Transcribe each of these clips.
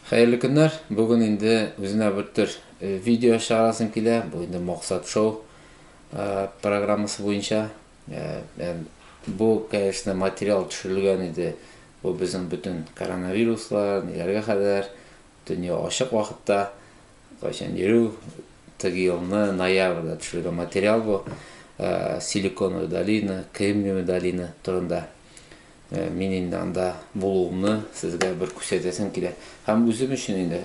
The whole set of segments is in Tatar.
Хәерле көннәр. Бүген инде үзенә бертөр видео чыгарасым килә. Бу инде максат шоу программасы буенча. Бу, конечно, материал төшерелгән иде. Бу безнең бөтен коронавируслар, ниләргә хәдәр, дөнья ачык вакытта, кайчан йөрү, теге елны ноябрьдә төшерелгән материал бу. Силиконовая долина, Кремниевая долина турында. Мин инде анда булуымны сезгә бер күрсәтәсем килә. Һәм үзем өчен инде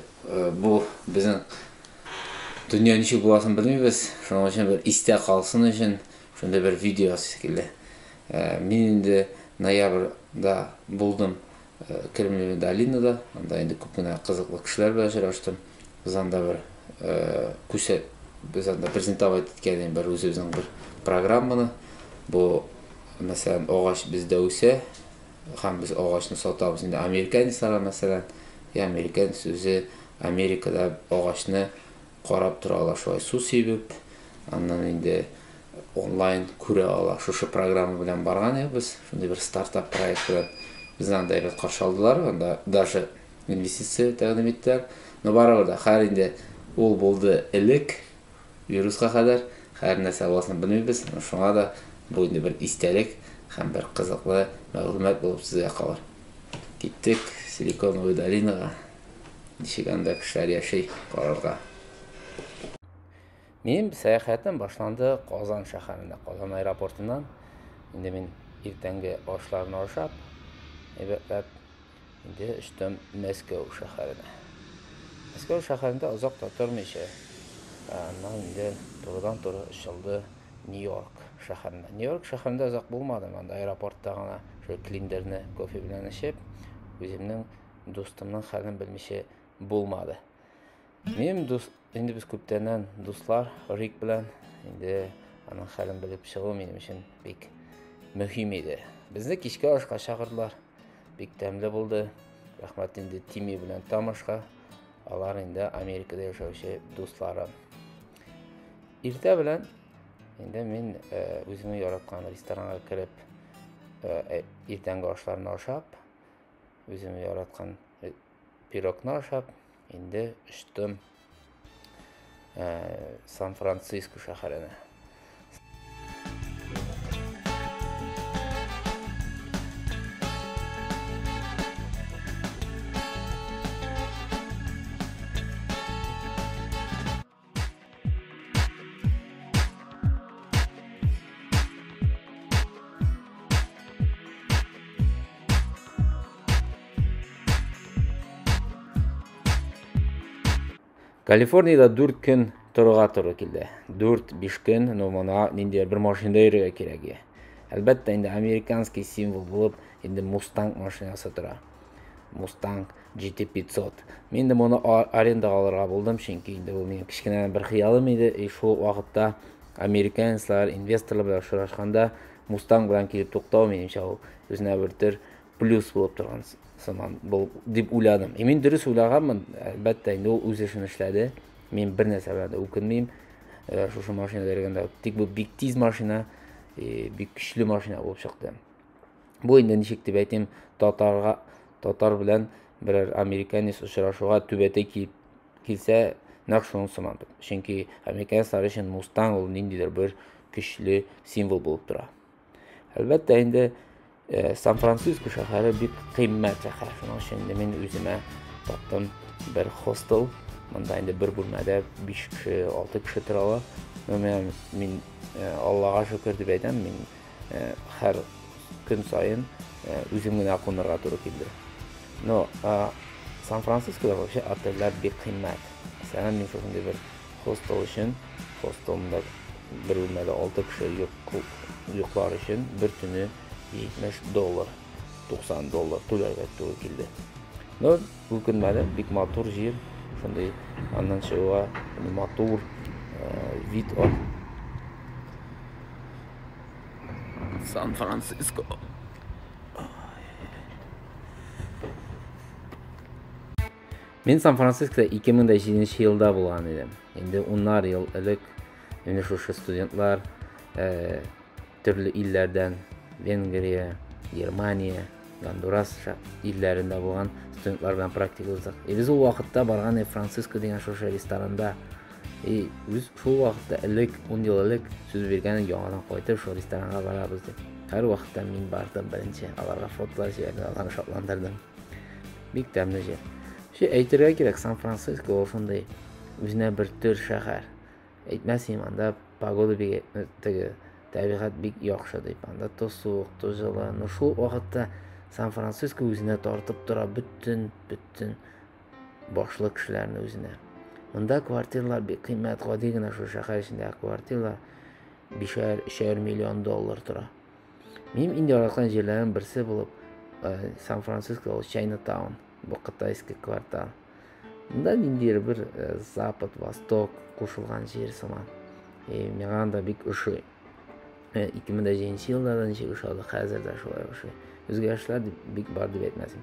бу безнең дөнья ничек буласын белмибез. Шуның өчен бер истә калсын өчен шундый бер видео ясыйсы килде. Мин инде ноябрьдә булдым Кремлевая долинада. Анда инде күп кенә кызыклы кешеләр белән очраштым. Без анда бер күсә без анда презентовать иткән бер үзебезнең бер программаны. Бу мәсәлән агач бездә үсә һәм без агачны сатабыз. Инде американецларга мәсәлән, я американец үзе Америкада агачны карап тора ала шулай су сибеп, аннан инде онлайн күрә ала. Шушы программа белән барган идек без, шундый бер стартап проект белән. Безне анда әйбәт каршы алдылар, анда даже инвестиция тәкъдим иттеләр. Но барыбер дә, хәер инде ул булды элек, вируска кадәр, хәер нәрсә буласын белмибез, шуңа да бу инде бер истәлек һәм бер кызыклы мәгълүмат булып сезгә калыр. Киттек Силиконовая долинага, ничек анда кешеләр яши, карарга. Минем сәяхәтем башланды Казан шәһәрендә, Казан аэропортыннан. Инде мин иртәнге ашларны ашап, әйбәтләп Инде очтым Мәскәү шәһәренә. Мәскәү шәһәрендә озак та тормыйча, аннан инде турыдан-туры очылды Нью-Йорк шәһәренә. Нью-Йорк шәһәрендә озак булмадым, анда аэропортта гына шул клиндерны кофе белән эчеп, үземнең дустымның хәлен белмичә булмады. Минем дус, инде без күптәннән дуслар Рик белән. Инде аның хәлен белеп чыгу минем өчен бик мөһим иде. Безне кичкә ашка чакырдылар. Бик тәмле булды. Рәхмәт инде Тими белән Тамашка. Алар инде Америкада яшәүче дусларым. Иртә белән инде мин э, үземнең яраткан ресторанга кереп, э, э, иртәнге ашларны ашап, үземнең яраткан Пирогны ашап, инде очтым ә, Сан-Франциско шәһәренә. Калифорнияда 4 көн торырга туры килде. 4-5 көн, но моңа нинди бер машинада йөрергә кирәк. Әлбәттә, инде американский символ булып, инде Мустанг машинасы тора. Мустанг GT500. Мин дә моны арендага алырга булдым, чөнки инде бу минем кечкенәдән бер хыялым иде. И шул ук вакытта американецлар, инвесторлар белән очрашканда Мустанг белән килеп туктау, минемчә, ул үзенә бер төр плюс булып торган сыман бул, дип уйладым. И мин дөрес уйлаганмын, әлбәттә, инде ул үз эшен эшләде. Мин бер нәрсә белән дә үкенмим. Э, шушы машина бергәндә. Тик бу бик тиз машина, бик көчле машина булып чыкты. Бу инде ничек дип әйтим, татарга татар белән берәр американец очрашуга түбәтәй килеп килсә, нәкъ шуның сыман. Чөнки американецлар өчен мустан ул ниндидер бер көчле символ булып тора. Әлбәттә инде э, Сан-Франциско шәһәре бик кыйммәт шәһәр. Шуның өчен инде мин үземә таптым бер хостел. Монда инде бер бүлмәдә 5 кеше, 6 кеше тора ала. Мин э, Аллага шөкер дип әйтәм, мин һәр көн саен үзем генә кунырга туры килде. Но Сан-Францискода вообще отельләр бик кыйммәт. Мәсәлән, мин шушындый бер хостел өчен, хостелымда бер бүлмәдә 6 кеше йоклар өчен бер төне 70 доллар, 90 доллар түләргә туры килде. Но үкенмәдем, бик матур җир, шундый аннан чыгуга матур вид ар. Сан-Франциско. Мин Сан-Францискода 2007 елда булган идем. Инде уннар ел элек менә шушы студентлар э, төрле илләрдән Венгрия, Германия, Гондурас илләрендә булган студентлар белән практика уздык. Ә без ул вакытта барган Франциско дигән шушы ресторанда И, үз шул вакытта элек, ун ел элек сүз биргән яңадан кайтып шул ресторанга барабыз дип. Һәр вакытта мин бардым беренче, аларга фотолар җибәрдем, аларны шатландырдым. Бик тәмле җир. Ши әйтергә кирәк, Сан-Франциско ул шундый үзенә бер төр шәһәр. Әйтмәс инем, анда погода бик э, теге табигать бик яхшы дип. Анда то суык, то җылы. Но шул вакытта Сан-Франциско үзенә тартып тора бөтен, бөтен башлы кешеләрне үзенә. Монда квартиралар бик кыйммәт, гади генә шул шәһәр эчендә квартира бишәр, өчәр миллион доллар тора. Минем инде яраткан җирләрем берсе булып э, Сан-Франциско ул Чайнатаун, бу кытайский квартал. Монда ниндидер бер э, запад, восток кушылган җир сыман. И миңа анда бик ошый. 2007 елларда ничек ошады, хәзер дә шулай ошый. Үзгәрешләр бик бар дип әйтмәсен.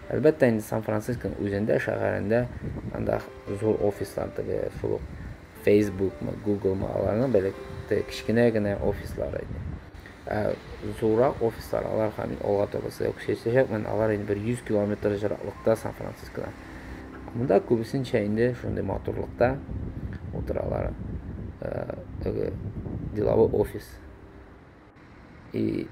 Әлбәттә инде Сан-Францисконың үзендә, шәһәрендә, анда зур офислар теге шул ук Фейсбукмы, Гуглмы, аларның бәләк теге кечкенә генә офислары иде. Ә зуррак офислар, алар һәм мин алга таба сезгә күрсәтәчәкмен, алар инде бер 100 километр җыраклыкта Сан-Францискодан. Монда күбесенчә инде шундый матурлыкта утыралар, теге деловой офис. И,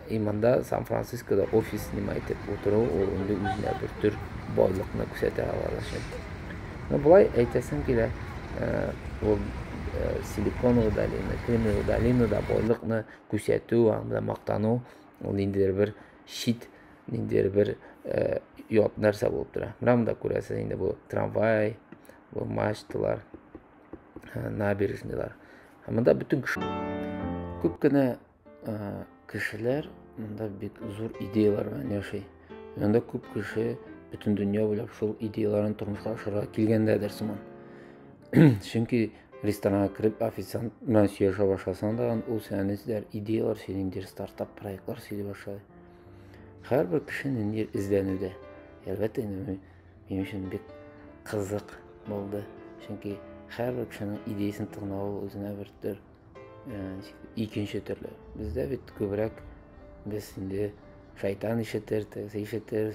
и монда Сан-Францискода офис снимать итеп утыру, ул инде үзенә бер төр байлыкны күрсәтә алар өчен. Ну, былай әйтәсем килә, э, ул э, силиконовая долина, кремниевая долинада байлыкны күрсәтү, анда мактану, ул ниндидер бер чит, ниндидер бер э, ят нәрсә булып тора. Менә монда күрәсез инде бу трамвай, бу мачталар. набережныйлар һәм монда бөтен кеше күп кенә кешеләр монда бик зур идеялар белән яши монда күп кеше бөтен дөнья буйлап шул идеяларын тормышка ашырырга килгәндәдер сыман чөнки ресторанга кереп официант белән сөйләшә башласаң да ул сиңа нидер идеялар сөйли ниндидер стартап проектлар сөйли башлады һәрбер кеше ниндидер эзләнүдә әлбәттә инде Минем өчен бик кызык булды. Чөнки һәр кешенең идеясен тыңлау үзенә бер төр э, икенче төрле. Бездә бит күбрәк без инде шайтан ишетер, тегесе ишетер,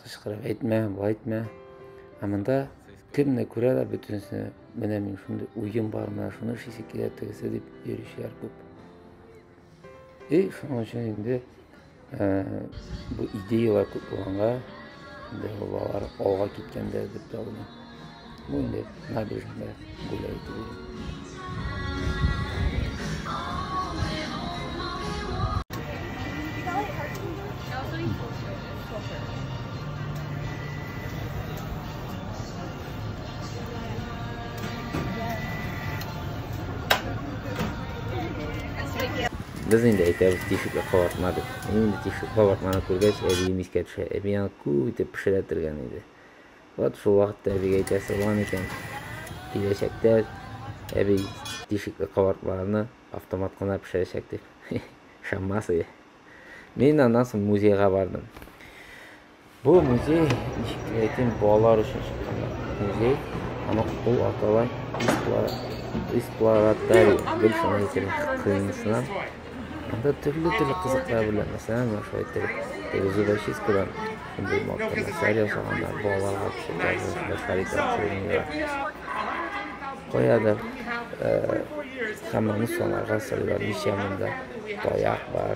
кычкырып әйтмә, былай әйтмә. Ә монда кемне күрә дә бөтенесе менә мин шундый уем бар, менә шуны эшлисе килә тегесе дип йөрүчеләр күп. И шуның өчен инде Бу идеялар күп булганга, инде балалар алга киткәндер дип тә уйлыйм. Бу инде набережныйда гуляй түгел. Без инде әйтәбез, тишеккә кабартма дип. Мин инде тишеккә кабартманы күргәч, әбием искә төшә. Әби аны күп итеп пешерәтергән иде. Вот шул вакытта әбигә әйтәсе булган икән, киләчәктә әби тишекле кабартмаларны автомат кына пешерәчәк дип. Ышанмас иде. Мин аннан соң музейга бардым. Бу музей, ничек кенә әйтим, балалар өчен чыккан музей. Аны ул атала эксплоратарий, бер шуны әйтелә, кыйнысына. Анда төрле-төрле кызыклар белән, мәсәлән, менә шулай итеп, теге зубочисткадан шундый матур нәрсәләр ясаганнар, балаларга күрсәтә, яшьләр итә, шундыйлар. Каядыр, һәм аны санарга сыйлар, ничә монда таяк бар,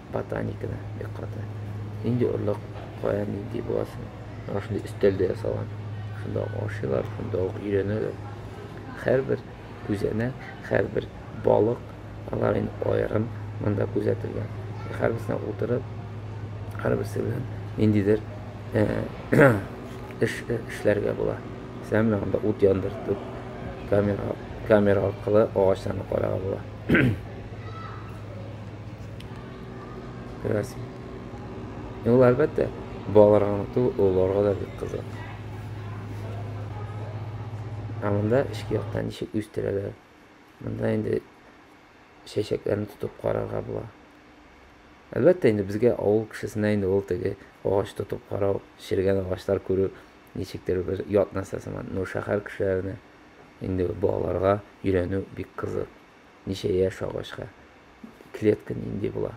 Ботаниканы бик каты. Нинди орлык, кая нинди була соң? Аңа шундый өстәл дә ясалган. Шунда ук ашыйлар, шунда ук өйрәнәләр. Һәрбер күзәнәк, һәрбер балык алар инде аерым монда күзәтелгән. Һәрберсенә утырып, һәрберсе белән ниндидер эш эшләргә була. Сәм менә анда ут яндыртып, камера камера аркылы агачларны карарга була. Күрәсең. Ә ул әлбәттә балаларга гына түгел, олыларга да бик кызык. Ә монда эчке яктан ничек үстерәләр? Монда инде чәчәкләрне тотып карарга була. Әлбәттә инде безгә авыл кешесенә инде ул теге агач тотып карау, шергән агачлар күрү ничектер бер ят нәрсә сыман. Но шәһәр кешеләренә инде балаларга өйрәнү бик кызык. Ничә яшь агачка клетка нинди була?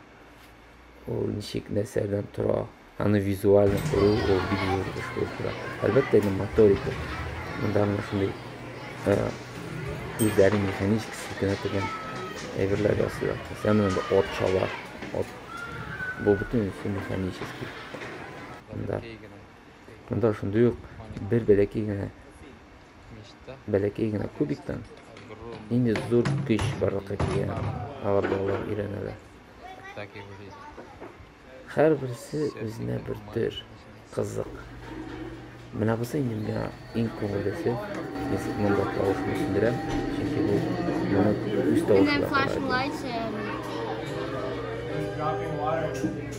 Ул ничек нәрсәдән тора? Аны визуально күрү ул бик зур эш булып тора. Әлбәттә, инде моторика. Монда менә шундый күзләрнең механически селкенә торган әйберләр ясыйлар. Мәсәлән, монда от чала. От. Бу бөтенесе механически. Монда. Монда шундый ук бер бәләкәй генә бәләкәй генә кубиктан нинди зур көч барлыкка килгәнен алар балалар өйрәнәләр. Һәрберсе үзенә бер төр кызык. Менә бусы инде миңа иң күңеллесе. Мин монда тавышны сүндерәм, чөнки бу моны үз тавышы да карады.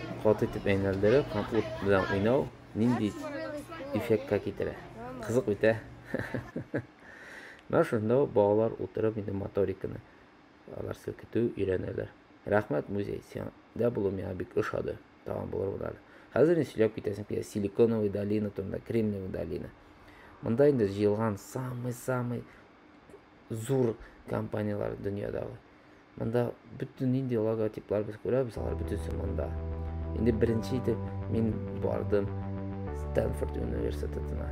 Каты итеп әйнәлдерү һәм ут белән уйнау нинди эффектка китерә? Кызык бит, ә? Менә шунда балалар утырып инде моториканы алар селкетү өйрәнәләр. Рәхмәт, музей, сиңдә булу миңа бик ошады. Тагын булырбыз әле. Хәзер инде сөйләп китәсем килә. Силиконовая долина турында, Кремниевая долина. Монда инде җыелган самый-самый зур компанияләр дөньядагы. Монда бөтен нинди логотиплар без күрәбез, алар бөтенесе монда. Инде беренче итеп мин бардым Стэнфорд университетына.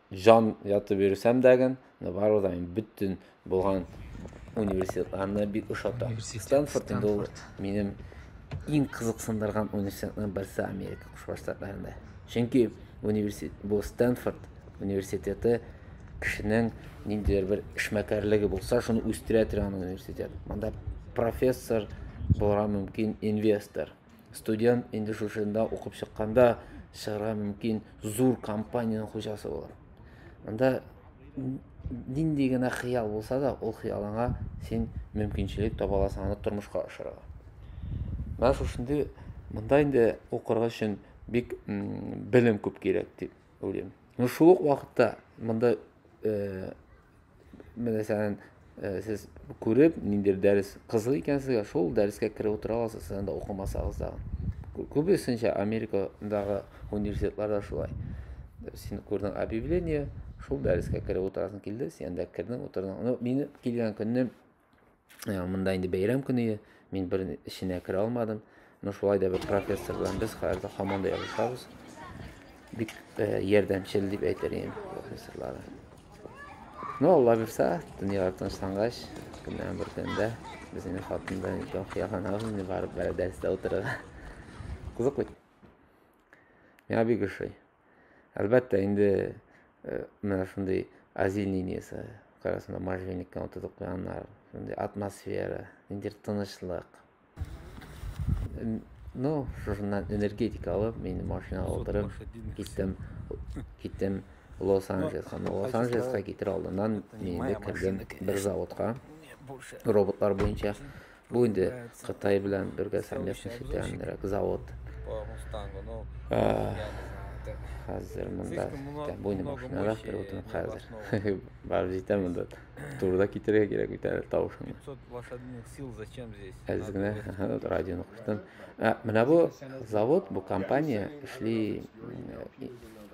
җан ятып йөрсәм дә ген, но барыбер да мин бөтен булган университетларны бик ошатам. Университет, Стэнфорд инде ул Стэнфорд. минем иң кызыксындырган университетларның берсе Америка Кушма Штатларында. Чөнки университет бу Стэнфорд университеты кешенең ниндидер бер эшмәкәрлеге булса, шуны үстерә торган университет. Монда профессор булырга мөмкин инвестор. Студент инде шушында укып чыкканда чыгарга мөмкин зур компаниянең хуҗасы булыр. Анда нинди генә хыял булса да, ул хыялыңа син мөмкинчелек таба аласың аны тормышка ашырырга. Менә шушындый монда инде укырга өчен бик белем күп кирәк дип уйлыйм. Ну шул ук вакытта монда э, Мәсәлән, э, сез күреп, ниндидер дәрес кызык икән сезгә, шул дәрескә кереп утыра аласыз, сез анда укымасагыз да. Күбесенчә Америкадагы университетларда шулай. Син күрдең объявление, шул дәрескә кереп утырасың килде, син анда кердең, утырдың. Ну, мине килгән көнне Ә, монда инде бәйрәм көне, мин бер эченә керә алмадым. Но шулай да бер профессор белән без хәзер һаман да язышабыз. Бик ә, ярдәмчел дип әйтер идем профессорлары. Но Алла бирсә, дөнья тынычлангач, көннән бер көндә без инде хатын белән икәү хыялланабыз инде барып бер дәрестә утырырга. Кызык бит. Миңа бик ошый. Әлбәттә, инде э, менә шундый азин линиясе, карасында можжевельниктан утыртып куйганнар, шундый атмосфера, ниндидер тынычлык. Ну, шушыннан энергетика алып, мин машинага утырып киттем, киттем Лос-Анджелесқа. Ну, Лос-Анджелесқа китер алдыннан мин инде кердем бер заводка, роботлар буенча. Бу инде Кытай белән бергә совместный итәнрәк завод. Хәзер монда буйны машинада переводым хәзер. Бар җитә монда. Турда китерергә кирәк бит әле тавышыңны. 500 лошадиных сил зачем здесь? Әз генә радионы куштым. Ә менә бу завод, бу компания эшли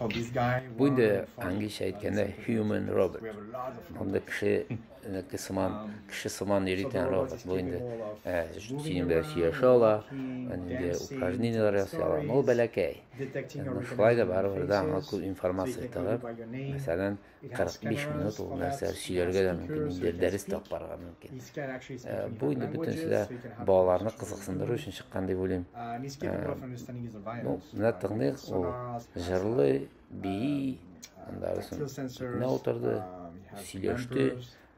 Бу инде английчә әйткәндә human robot. Монда кеше кеше сыман, кеше сыман йөритен робот. Бу инде синең белән сөйләшә ала, инде упражненияләр ясый ала. Ул бәләкәй. Шулай да барыбер да аңа күп информация тыгып, мәсәлән, 45 минут ул нәрсә сөйләргә дә мөмкин, инде дәрес тә барырга мөмкин. Э, бу инде бөтенесе дә балаларны кызыксындыру өчен чыккан дип уйлыйм. Э, ну, менә тыңлыйк, ул җырлый, бии, анда рәсем. Менә утырды, сөйләште.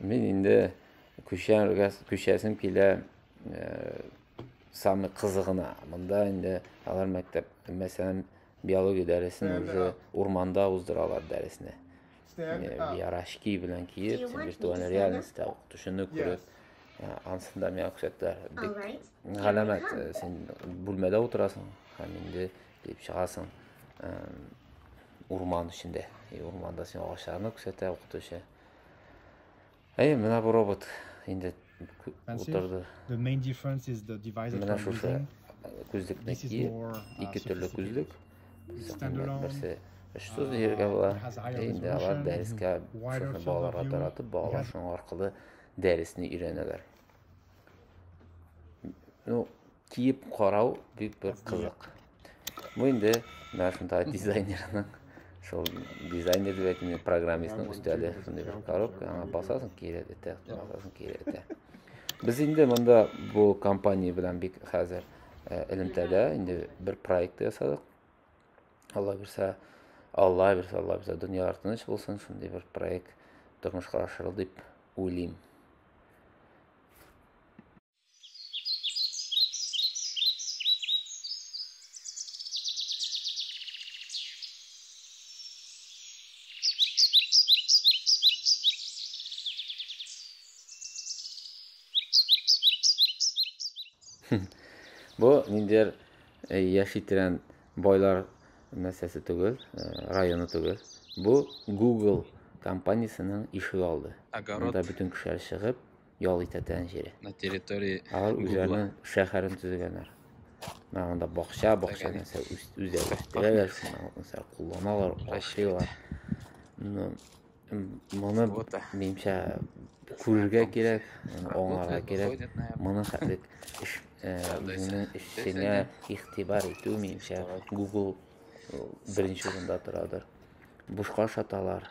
Мин инде күчәргә күчәсем килә самый кызыгына. Монда инде алар мәктәп, мәсәлән, биология дәресен үзе урманда уздыралар дәресне. Ярашки белән киеп, виртуаль реальностьта укытучыны күреп, ансында миңа күрсәттеләр. Бик галәмәт, син бүлмәдә утырасың һәм инде килеп чыгасың урман эчендә. Урманда син агачларны күрсәтә укытучы. Әй, менә бу робот инде утырды. Менә шушы күзлекне ки, ике төрле күзлек. Берсе өчсез җиргә була. Инде алар дәрескә шуны балаларга таратып, балалар шуның аркылы дәресне өйрәнәләр. Ну, киеп карау бик бер кызык бу инде менә шунда дизайнерның шул дизайнер дип әйтмим программистның өстәле шундый бер коробка аңа басасың кире этә басасың кире этә без инде монда бу компания белән бик хәзер э, элемтәдә инде бер проект ясадык алла бирсә алла бирсә алла бирсә дөньялар тыныч булсын шундый бер проект тормышка ашырыл дип уйлыйм Бу ниндер э, яшь иттерән байлар нәрсәсе түгел, э, районы түгел. Бу Google компаниясенең ишек алды. Анда бөтен кешеләр чыгып, ял итәтән җире. На территории Алар үзләренең шәһәрен төзегәннәр. Менә анда бакча, бакча нәрсә үзләре үстерәләр, нәрсә кулланалар, ашыйлар. Ну, моны минемчә күрергә кирәк, аңларга кирәк. Моны хәтле эш моның эшенә игътибар итү минемчә Google беренче урында торадыр. Бушка ашаталар.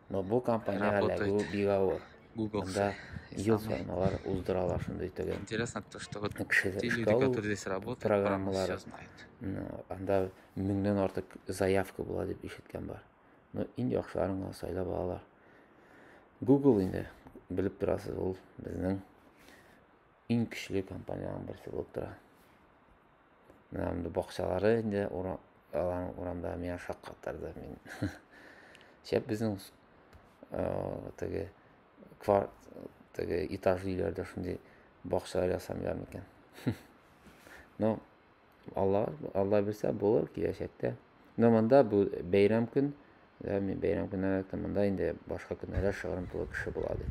Но бу компания Работает. Бигавы. Google. Анда ел сайын алар уздыралар шундый түгел. Интересно то, что вот те люди, которые здесь работают, программалары знают. Анда меңнән артык заявка була дип ишеткән бар. Ну, иң яхшыларын гына сайлап алалар. Google инде белеп торасыз, ул безнең иң көчле компаниянең берсе булып тора. Менә инде бакчалары инде урам, алаң урамда миңа шак катырды. Мин шәп безнең э, теге квар теге этаж өйләрдә шундый бакчалар ясамыйлар микән? Ну, Алла Алла бирсә булыр киләчәктә. Но монда бу бәйрәм көн, да, мин бәйрәм көннәрендә яттым, монда инде башка көннәрдә шыгрым тулы кеше була, ди.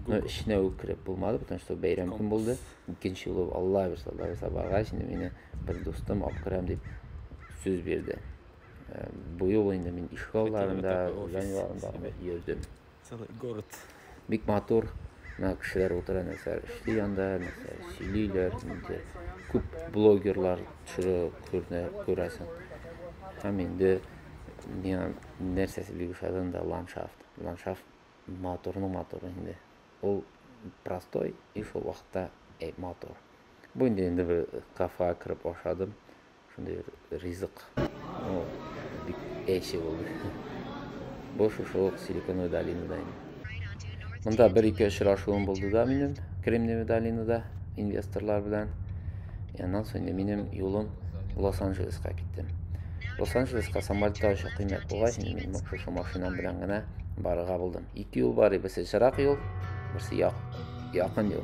Но эченә үк кереп булмады, потому что бәйрәм көн булды. Икенче юлы Алла бирса, Алла бирса баргач, инде мине бер дустым алып керәм дип сүз бирде. Э, Бу юлы инде мин ишегалларында, Мәктәбе, офис, җан юлларында йөрдем. Целый город. Бик матур. Менә кешеләр утыра нәрсәләр эшли анда, нәрсәләр сөйлиләр. Инде күп блогерлар төшерә күренә күрәсең. Һәм инде миңа нәрсәсе бик ошады анда ландшафт. Ландшафт матурның матур инде. Ул простой и шул вакытта э, матур. Бу инде инде бер кафега кереп ашадым. Шундый бер ризык. Ну, бик әйше булды. Бу шушы ук Силиконовый долинада инде. Монда бер-ике очрашуым булды да минем Кремниевый долинада инвесторлар белән. И аннан соң инде минем юлым Лос-Анджелеска киттем. Лос-Анджелеска самолетта очу кыйммәт булгач, инде мин шушы машинам белән генә барырга булдым. Ике юл бар, берсе чырак юл, берсе як, якын юл.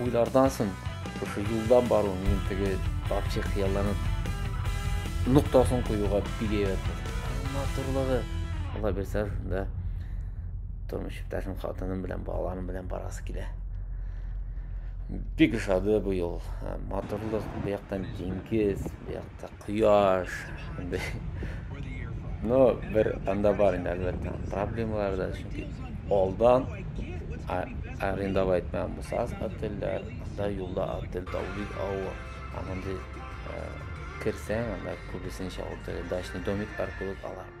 Уйлардан сон, шушы юлдан бару минем теге вообще хыялланып ноктасын куюга бик әйбәт булды. Матурлыгы, Алла бирсә, да тормыш иптәшем, хатыным белән, балаларым белән барасы килә. Бик ошады бу юл. Матурлык, бу яктан диңгез, бу якта Кояш. Ну, бер анда бар инде, әлбәттә, проблемалар да, чөнки алдан арендовать мәм булсагыз отельләр, анда юлда отель табу бик авыр. Һәм анда керсәң, анда күбесенчә отель, дачный домик аркылы алар.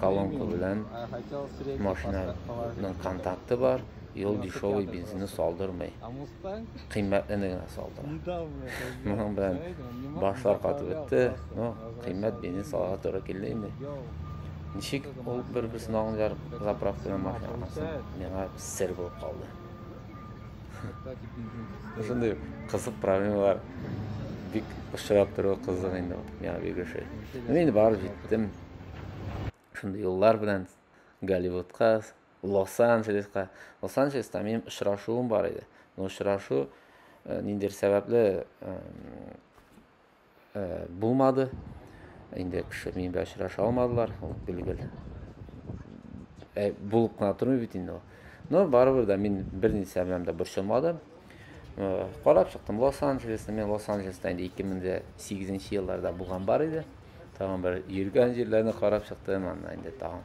колонка белән машинаның контакты бар, и ул дешевый бензинны салдырмый. Кыйммәтлене генә салдыра. Моның белән башлар катып бетте, но кыйммәт бензин салырга туры килде инде. Ничек ул бер-берсен аңлыйлар заправкадан машина алгансың, миңа сер булып калды. Шундый кызык проблемалар бик очрап тору кызык инде миңа бигрәк. Мин инде барып җиттем. шундый юллар белән Голливудка, Лос-Анджелеска. Лос-Анджелеста минем очрашуым бар иде. Но очрашу э, ниндер сәбәпле э, э, булмады. Инде кеше минем белән очраша алмадылар. Ул билгел. Ә, булып кына тормый бит инде ул. Но барыбер дә мин берничә белән дә борчылмадым. Карап чыктым Лос-Анджелесны. Мин Лос-Анджелеста инде 2008 нче елларда булган бар иде. Тагын бер йөргән җирләрне карап чыктым, анда инде тагын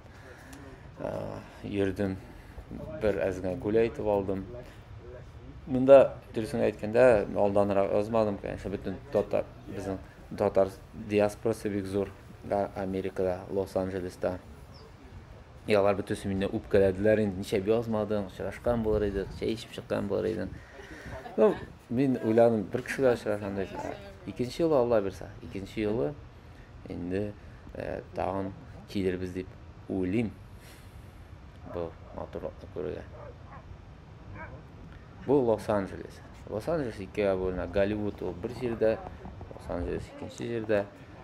йөрдем. Бер әз генә гүләй итеп алдым. Монда дөресен әйткәндә, алданрак язмадым, конечно, бөтен татар безнең татар диаспорасы бик зур Америкада, Лос-Анджелеста. И алар бөтенесе мине үпкәләделәр инде, нишләп язмадың, очрашкан булыр идек, чәй эчеп чыккан булыр идең. Ну, мин уйланым, бер кешегә очрашам дип. Икенче юлы Алла бирсә, икенче юлы инде э, тагын килербез дип уйлыйм. Бу матурлыкны күрергә. Бу Лос-Анджелес. Лос-Анджелес икегә бүленә. Голливуд ул бер җирдә, Лос-Анджелес икенче җирдә.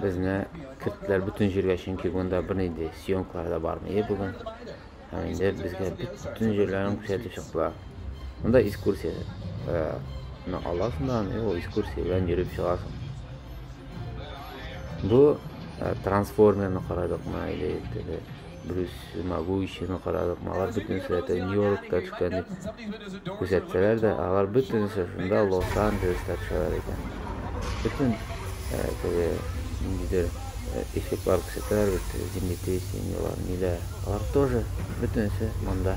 Безне керттеләр бөтен җиргә, чөнки монда бернинди съемкалар да бармый бүген. Һәм инде безгә бөтен җирләрен күрсәтеп чыктылар. Монда экскурсия ну аласың да аны ул экскурсия белән йөреп чыгасың. Бу трансформерны карадыкмы или Брюс Магуичины карадык, алар бөтенесе дә тә Нью-Йоркта төшкән дип күрсәтсәләр дә, алар бөтенесе шунда Лос-Анджелеста төшәләр икән. Бөтен э, теге ниндидер э, эффектлар күрсәтәләр бит, землетрясениелар, ниләр. Алар тоже бөтенесе монда.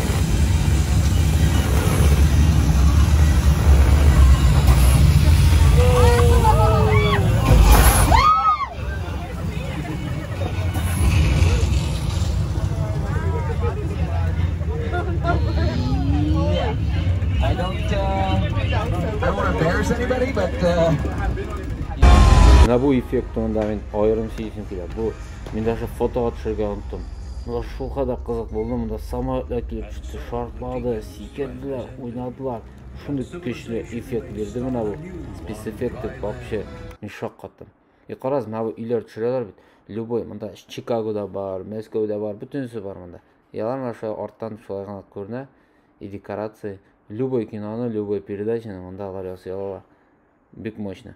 Менә бу эффектны анда мин аерым сизесем килә. Бу Мин даже фотога төшергә оныттым. Монда шул кадәр кызык булды, монда самолетлар килеп төште, шартлады, сикерделәр, уйнадылар. Шундый көчле эффект бирде менә бу спецэффекты вообще. Мин шок каттым. И караз, менә бу өйләр төшерәләр бит. Любой, монда Чикагода бар, Мәскәүдә бар, бөтенесе бар монда. И алар менә шулай арттан шулай гына күренә. И декорации. Любой киноны, любой передачаны монда алар ясый алалар. Бик мощно.